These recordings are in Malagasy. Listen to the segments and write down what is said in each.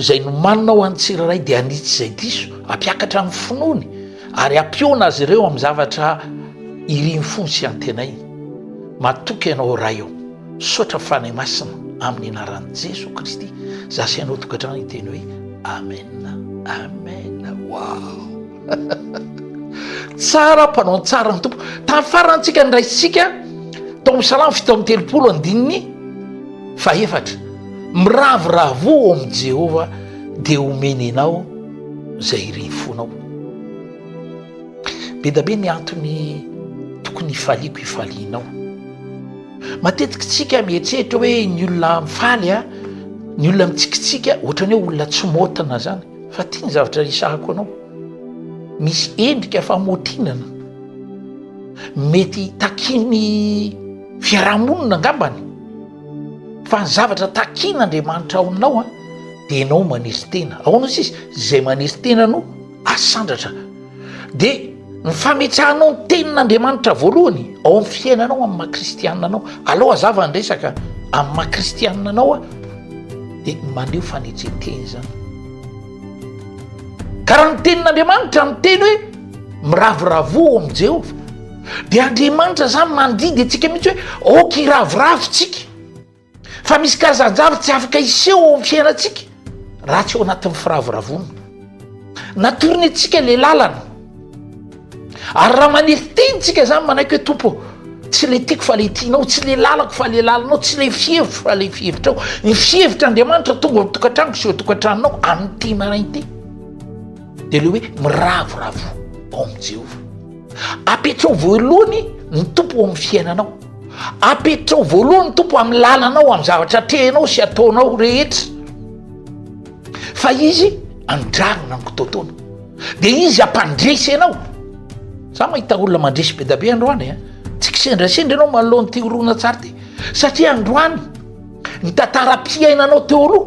Izay nomanina ho an'ny tsirairay dia hanitsy izay diso, hampiakatra ny finoany, ary hampihaona azy ireo amin'ny zavatra irin'ny fony sy antenainy. Matoky Ianao, Ray ô. Misaotra Fanahy Masina, amin'ny anaran'i Jesoa Kristy, Zaho sy Ianao tokantrano hiteny hoe Amen. Amen. Wow. tsara mpanao tsara ny tompo tamin'ny farantsika ny raisika tao amin'ny salamo fito amin'ny telopolo andininy fahefatra miravoravo ao amin'i jehovah dia homeny anao zay iriny fonao be da be ny antony tokony hifaliako hifalianao matetika tsika mieritreritra hoe ny olona mifaly a ny olona mitsikitsika ohatrany hoe olona tsy motina zany Fa ty ny zavatra resahako anao, misy endrika famotinana mety takian'ny fiarahamonina angambany, fa ny zavatra takian'Andriamanitra ao aminao an dia ianao maneso tena, ahoana sisa? Izay maneso tena no asandratra. dia ny fametsahanao ny tenin'Andriamanitra voalohany ao amin'ny fiainanao amin'ny maha kristianina anao alao azava ny resaka amin'ny maha kristianina anao a dia maneo fanetren-teny zany ka raha ny tenin'Andriamanitra ny teny hoe miravoravo ao amin'i Jehovah dia Andriamanitra zany mandidy antsika mihitsy hoe aoka hiravoravo tsika Fa misy karazan-javatra tsy afaka hiseho ao amin'ny fiainantsika raha tsy ao anatin'ny firavoravoana. Natorony antsika ilay lalana. Ary raha manefy teny tsika izany manaiky hoe tompo tsy le tiako fa le tianao, tsy le lalako fa le lalanao, tsy le fihevitro fa le fihevitrao. Ny fihevitr'Andriamanitra tonga ao tokantranoko sy eo tokantranonao amin'ity marain'ity. Dia le hoe miravoravo ao amin'i Jehovah. Apetraho voalohany ny tompo ao amin'ny fiainanao. Ampiditrao voalohany tompo amin'ny lalanao amin'ny zavatra atrehinao sy ataonao rehetra fa izy andranona ny kitotoana de izy ampandresy anao za mahita olona mandresy be dabe androany a tsy kisendrasendra ianao manoloany ty orona tsara ty satria androany ny tantara-piainanao teo aloha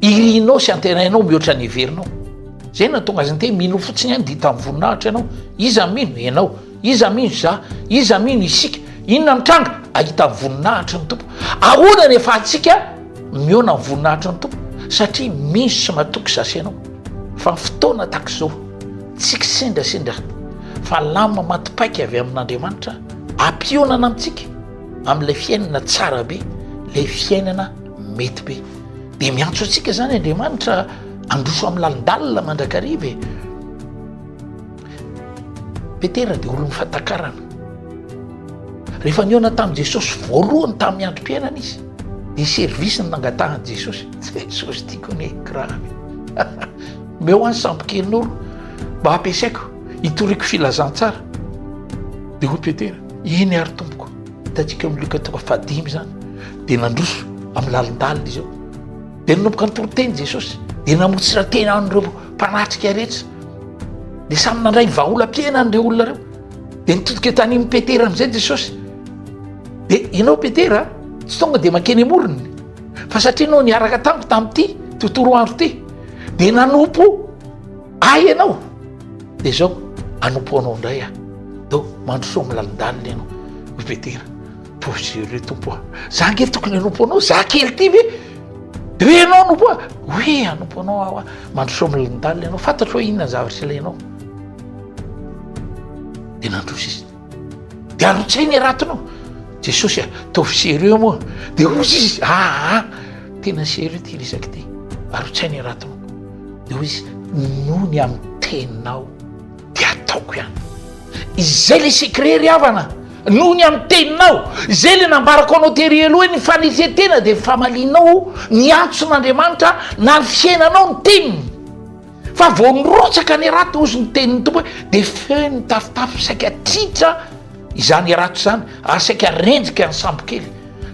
Irinao sy antenainao mihoatra ny heverinao. Zay no nahatonga azy niteny, mino fotsiny ahy no dita amin'ny voninahitra ianao. Iza no mino? Ianao. Iza mino? Za. Iza mino? Isika. Inona no tranga? Ahita ny voninahitry ny Tompo. Ahoana ny ahafahantsika mihaona amin'ny voninahitry ny Tompo? Satria mino sy matoky za sy ianao fa ny fotoana tahaka izao tsy kisendrasendra fa lamina maty paika avy amin'Andriamanitra ampihaonana amintsika amin'ilay fiainana tsara be, ilay fiainana mety be. Dia miantso antsika izany Andriamanitra handroso amin'ny lalindalina mandrakariva e. Petera dia olon'ny fahatakarana. Rehefa nihaona tamin'i Jesosy voalohany tamin'ny androm-piainana izy, dia service ny nangatahan'i Jesosy. Jesosy tiako anie grave. Meo any sambokelin'oro mba hampiasaiko hitoriako filazantsara. Dia hoy Petera, eny ary tompoko. Hitantsika eo Lioka toko fahadimy izany, dia nandroso amin'ny lalindalina izy eo. Dia nanomboka nitory teny Jesosy, dia namotsiran-tena an'ireo mpanatrika rehetra. Dia samy nandray ny vahaolam-piainany ireo olona ireo. Dia nitodika tany amin'i Petera amin'izay Jesosy. Dia ianao Petera, tsy tonga dia mankeny amorony, fa satria ianao niaraka tamiko tamin'ity tontolo andro ity, dia nanompo ahy ianao. Dia izao, hanompo anao indray aho. Dô, mandrosoa amin'ny lalindalina ianao, ry Petera. Tohizo re Tompo a! Za ange tokony hanompo anao, za kely ity ve? Re ianao hanompo ahy? Oe, hanompo anao aho a! Mandrosoa amin'ny lalindalina ianao, fantatro hoe inona ny zavatra ilainao. Dia nandroso izy. Dia arotsainy e Ratona o! Jesosy a! Ataovy sérieux moa a! Dia hoy izy, aa! Tena sérieux ity resaka ity! Arotsainy e Ratona o! Dia hoy izy, noho ny amin'ny teninao dia ataoko ihany. Izay ilay secret ry havana a! Noho ny amin'ny teninao! Izay ilay nambarako anao tery aloha hoe ny fanetren-tena dia ny famalianao miantso an'Andriamanitra na ny fiainanao ny teniny. Fa vao mirotsaka ny hirato hozy ny tenin'ny Tompo hoe, dia feno ny tafotafo saika tritra izany hirato izany ary saika rendrika ny sambokely.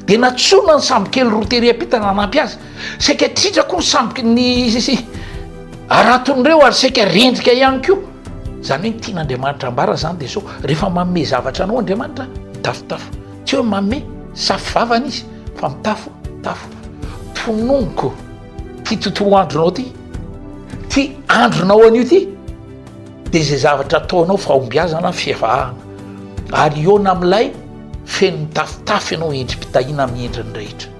Dia natsoina ny sambokely roa tery am-pita nanampy azy. Saika tritra koa ny samboky ny haraton'ireo ary saika rendrika ihany koa. Izany hoe ny tian'Andriamanitra ambara izany dia sao rehefa manome zavatra anao Andriamanitra, mitafotafo. Tsy hoe manome safo vavany izy fa mitafo tafo. Tononiko. Ty tontolo andronao ty, ty andronao anio ty de zay zavatra ataonao fahombiazana, fivavahana, ary hihaona amin'ilay feno mitafotafo ianao endri-pitahiana amin'ny endriny rehetra.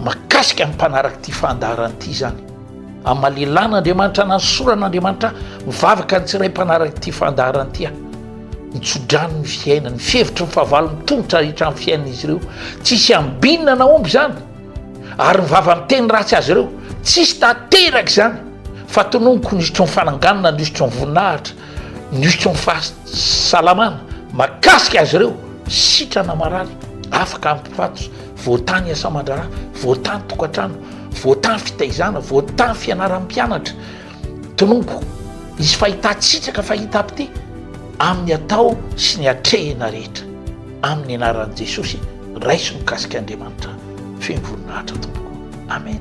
Makasika ny mpanaraka ity fandaharana ity izany. Amin'ny lelan'Andriamanitra na ny soran'Andriamanitra mivavaka ny tsiray mpanaraka ity fandaharana ity aho. Ny tsodrano ny fiainany, ny fihevitry ny fahavalony tomotra rehetra amin'ny fiainan'izy ireo. Tsisy ambinina na omby izany. Ary ny vava miteny ratsy azy ireo, tsisy tanteraka izany, fa tononiko ny hosotry ny fananganana, ny hosotry ny voninahitra, ny hosotry ny fahasalamana, mahakasika azy ireo, sitrana marary, afaka hampifatotra, voatany asa aman-draharaha, voatany tokantrano, voatany fitaizana, voatany fianaram-pianatra, Tonompo, hisy fahitan-tsitraka fahitam-pite amin'ny atao sy ny atrehina rehetra. Amin'ny anaran'i Jesosy, raiso mikasika Andriamanitra feno voninahitra tompoko. Amen.